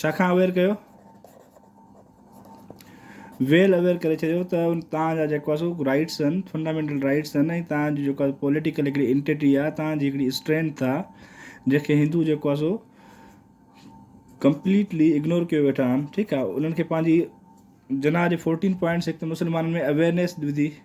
ڇا کان اويئر ڪيو؟ ويل اويئر ڪري ڇڏيو ته توهان جا جيڪو اسو رائيٽس آهن فنڊامينٽل رائيٽس آهن ۽ توهان جي جيڪو پوليٽيڪل هڪڙي انٽيٽي آهي توهان جي هڪڙي اسٽرينٿ آهي جنهن کي هندو جيڪو اسو ڪمپليٽلي اگنور ڪيو ويٺا آهن ٺيڪ آهي انهن کي پنهنجي جناح جي فورٽين پوائنٽس هڪ ته مسلمانن ۾ اويئرنيس وڌي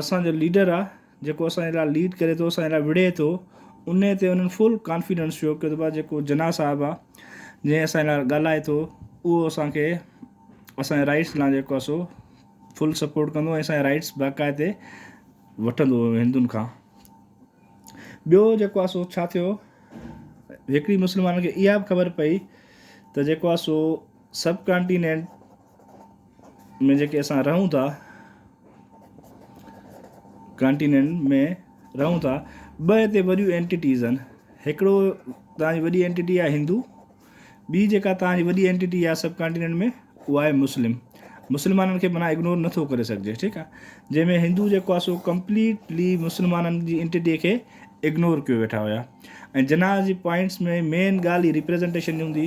اسان جو ليڊر آ جيڪو اسان جي لاء ليڊ ڪري ٿو اسان جي لاء وڙهي ٿو ان تي انهن فل ڪانفيڊنس شو ڪيو ته جيڪو جناح صاحب آ جنهن اسان جي لاء ڳالهائي ٿو اهو اسان کي اسان جي رائٽس لاء جيڪو آ سو فل سپورٽ ڪندو ۽ اسان جا رائٽس باقاعدي وٺندو هندن کان ٻيو جيڪو آ سو ڇا ٿيو هڪڙي مسلمانن کي اها به خبر پئي ته جيڪو آ سو سب ڪانٽيننٽ ۾ جيڪي اسان رهون ٿا ڪانٽيننٽ ۾ رهون ٿا ٻه هتي وڏيون اينٽيٽيز آهن هڪڙو تانجي وڏي اينٽيٽي آهي هندو ٻي جيڪا تانجي وڏي اينٽيٽي آهي سب ڪانٽيننٽ ۾ اها آهي مسلم مسلمانن کي منا اگنور نٿو ڪري سگهجي ٺيڪ آهي جنهن ۾ هندو جيڪو آهي سو ڪمپليٽلي مسلمانن جي اينٽيٽي کي اگنور ڪيو ويٺا هيا ۽ جناح جي پوائنٽس ۾ مين ڳالهه هي ريپريزنٽيشن جي هوندي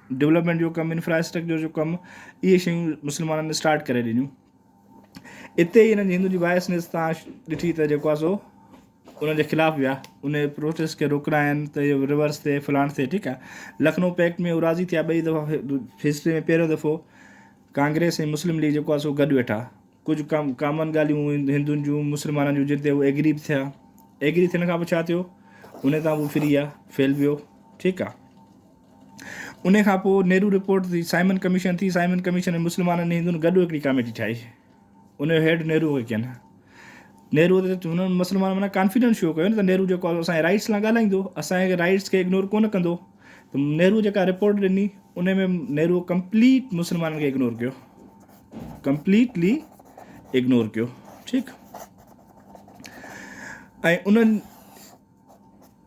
ڊولپمينٽ جو ڪم انفراسٽرڪچر جو ڪم اهي شيون مسلمانن اسٽارٽ ڪري ڏنيون اتي هنن جي هندن جي بايسنس تان ڏٺي ته جيڪو آ سو انهن جي خلاف ويا ان جي پروسيس کي روڪراين ته اهو ريورس ٿئي فلاڻ ٿئي ٺيڪ آ لکنؤ پيڪٽ ۾ هو راضي ٿيا ٻئي دفعا هسٽري ۾ پهريون دفعو ڪانگريس ۽ مسلم ليگ جيڪو آ سو گڏ ويٺا ڪجهه ڪم ڪامن ڳالهيون هندن جون مسلمانن جون جن تي هو ايگري به ٿيا ايگري ٿيڻ کان پوء ڇا ٿيو ان تان هو فري ويا فيل ويو ٺيڪ آ انهيء کان پوء نهرو رپورٽ جي سائمن ڪميشن ٿي. سائمن ڪميشن ۾ مسلمانن ۽ هندن گڏ هڪڙي ڪاميٽي ٺاهي. ان جو هيڊ نهرو هو ڪين. نهرو تي هن مسلمانن معنيٰ ڪانفيڊنس شو ڪيو نه ته نهرو جيڪو اسان جي رائيٽس لاء ڳالهائيندو، اسان جي رائيٽس کي اگنور ڪونه ڪندو. ته نهرو جيڪا رپورٽ ڏني، انهيء ۾ نهرو ڪمپليٽ مسلمانن کي اگنور ڪيو. ڪمپليٽلي اگنور ڪيو. ٺيڪ. ۽ انهن.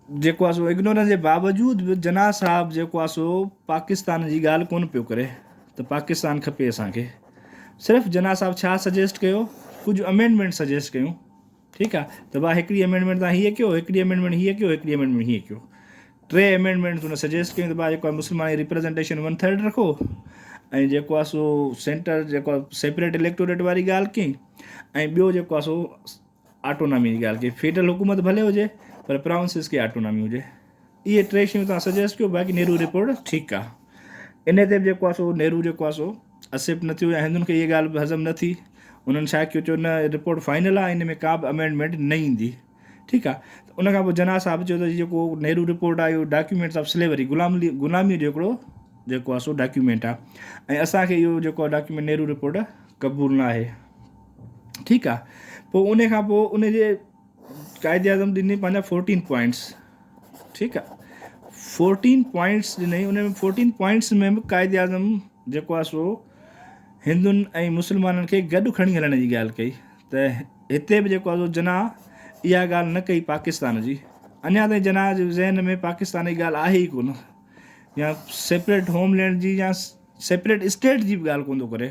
جيڪو آ سو اگنورنس جي باوجود به جناح صاحب جيڪو آ سو پاڪستان جي ڳالهه ڪونه پيو ڪري ته پاڪستان کپي اسان کي صرف جناح صاحب ڇا سجيسٽ ڪيو ڪجهه امينڊمينٽ سجيسٽ ڪيون ٺيڪ آ ته با هڪڙي امينڊمينٽ تان هي ڪيو هڪڙي امينڊمينٽ هي ڪيو هڪڙي امينڊمينٽ هي ڪيو ٽي امينڊمينٽ ان سجيسٽ ڪيون ته با جيڪو مسلمان ريپريزنٽيشن ون ٿرڊ رکو ۽ جيڪو آ سو سينٽر جيڪو سيپريٽ اليڪٽوريٽ واري ڳالهه ڪئي ۽ ٻيو جيڪو آ سو آٽونامي جي ڳالهه ڪئي فيڊرل حڪومت ڀلي هجي پر پراونسز کي آٽونامي هجي اهي ٽي شيون تان سجيسٽ ڪيو باقي نهرو رپورٽ ٺيڪ آ ان تي به جيڪو آ سو نهرو جيڪو آ سو اسيپٽ نه ٿيو يا هندن کي اهي ڳالهه به هضم نه ٿي انهن ڇا ڪيو چو نه رپورٽ فائنل آ ان ۾ ڪا به امينڊمينٽ نه ايندي ٺيڪ آ ته ان کان پوء جناح صاحب چيو ته جيڪو نهرو رپورٽ آ اهو ڊاڪيومينٽس آف سليوري غلام غلامي جو هڪڙو جيڪو آ سو ڊاڪيومينٽ آ ۽ اسان کي اهو جيڪو ڊاڪيومينٽ نهرو رپورٽ قبول نه آهي ٺيڪ آ پوء انهي کان پوء ان جي قائد اعظم ڏني پنهنجا فورٽين پوائنٽس ٺيڪ آ فورٽين پوائنٽس ڏني ان ۾ فورٽين پوائنٽس ۾ به قائد اعظم جيڪو آ سو هندن ۽ مسلمانن کي گڏ کڻي هلڻ جي ڳالهه ڪئي ته هتي به جيڪو آ سو جناح اها ڳالهه نه ڪئي پاڪستان جي اڃا تائين جناح جي ذهن ۾ پاڪستان جي ڳالهه آهي ئي ڪونه يا سيپريٽ هوم لينڊ جي يا سيپريٽ اسٽيٽ جي به ڳالهه ڪونه ٿو ڪري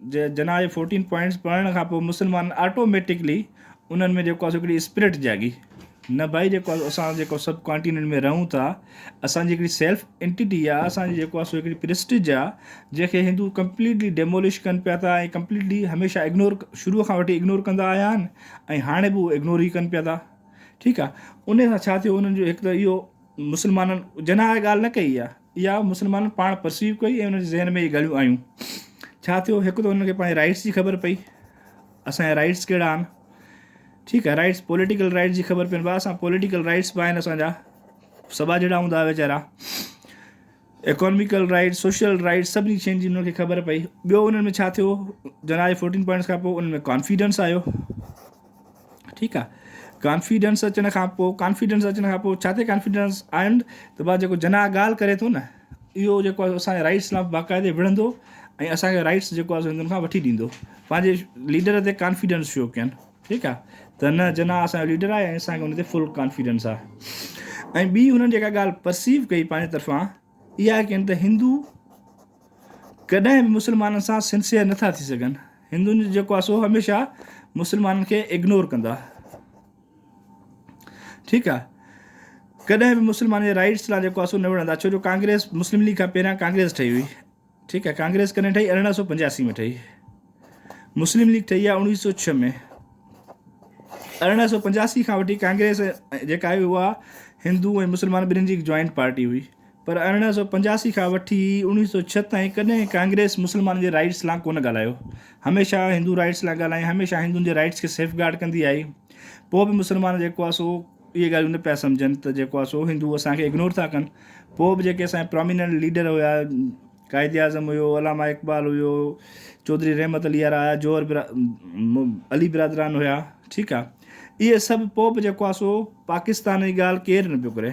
جناح جي فورٽين پوائنٽس پڙهڻ کان پوء مسلمانن آٽوميٽڪلي انهن ۾ جيڪو آهي سو هڪڙي اسپرٽ جاڳي نه ڀائي جيڪو آهي اسان جيڪو سب ڪانٽيننٽ ۾ رهون ٿا اسان جي هڪڙي سيلف انٽيٽي آهي اسان جي جيڪو آهي سو هڪڙي پرسٽيج آهي جنهن کي هندو ڪمپليٽلي ڊيمولش ڪن پيا ٿا ۽ ڪمپليٽلي هميشه اگنور شروع کان وٺي اگنور ڪندا آيا آهن ۽ هاڻي به هو اگنور ئي ڪن پيا ٿا ٺيڪ آهي ان سان ڇا ٿيو انهن جو هڪ ته اهو مسلمانن جناح ڳالهه نه ڪئي آهي اها مسلمانن پاڻ پرسيو ڪئي ۽ انهن جي ذهن ۾ اهي ڳالهيون آيون. ڇا ٿيو، هڪ ته انهن کي پنهنجي رائيٽس جي خبر پئي، اسان جا رائيٽس ڪهڙا آهن. ٺيڪ آهي، رائيٽس پوليٽيڪل رائيٽس جي خبر پين ڀا اسان پوليٽيڪل رائيٽس به آهن اسان جا، سٻا جهڙا هوندا هئا ويچارا. ايڪانميڪل رائيٽس، سوشل رائيٽس سڀني شين جي انهن کي خبر پئي. ٻيو انهن ۾ ڇا ٿيو، جناح جي فورٽين پوائنٽس کان پوء انهن ۾ ڪانفيڊنس آيو. ٺيڪ آ ڪانفيڊنس اچڻ کان پو ڪانفيڊنس اچڻ کان پو ڇا تي ڪانفيڊنس آيم ته بعد جيڪو جناح ڳالهه ڪري ٿو نه اهو جيڪو آهي اسان جي رائٽس لاء باقاعدي وڙهندو ۽ اسان کي رائٽس جيڪو آهي سندن کان وٺي ڏيندو پنهنجي ليڊر تي ڪانفيڊنس شو ڪين ٺيڪ آ ته نه جناح اسان جو ليڊر آهي ۽ اسان کي ان تي فل ڪانفيڊنس آ ۽ ٻي هنن جيڪا ڳالهه پرسيو ڪئي پنهنجي طرفان اها ڪين ته هندو ڪڏهن به مسلمانن سان سنسيئر نٿا ٿي سگهن. هندن جو جيڪو آهي سو هميشه مسلمانن کي اگنور ڪندا. ٺيڪ آهي. ڪڏهن به مسلمانن جي رائيٽس لا جيڪو آهي سو نه وڙهندا ڇو جو ڪانگريس مسلم ليگ کان پهريان ڪانگريس ٺهي هئي. ٺيڪ آهي. ڪانگريس ڪڏهن ٺهي ارڙهن سؤ پنجاسي ۾ ٺهي. مسلم ليگ ٺهي آهي اوڻيهه سؤ ڇهه ۾. ارڙهن سؤ پنجاسي کان وٺي ڪانگريس جيڪا آهي اها هندو ۽ مسلمان ٻنهين جي هڪ جوائنٽ پارٽي هئي. پر ارڙهن سؤ پنجاسي کان وٺي اڻويهه سؤ ڇهه تائين ڪڏهن ڪانگريس مسلمانن جي رائيٽس لان ڪونه ڳالهايو. هميشه هندو رائيٽس لان ڳالهائين، هميشه هندن جي رائيٽس کي سيف گارڊ ڪندي آئي. پوء به مسلمان جيڪو آهي سو اهي ڳالهيون نه پيا سمجهن ته جيڪو آهي سو هندو اسان کي اگنور ٿا ڪن. پوء به جيڪي اسان جا پراميننٽ ليڊر هيا، قائد اعظم هيو، علامه اقبال هيو، چوڌري رحمت علي آرا هيا، جوهر علي برادران هيا، ٺيڪ آهي. اهي سڀ پوء به جيڪو آهي سو پاڪستان جي ڳالهه ڪير نه پيو ڪري.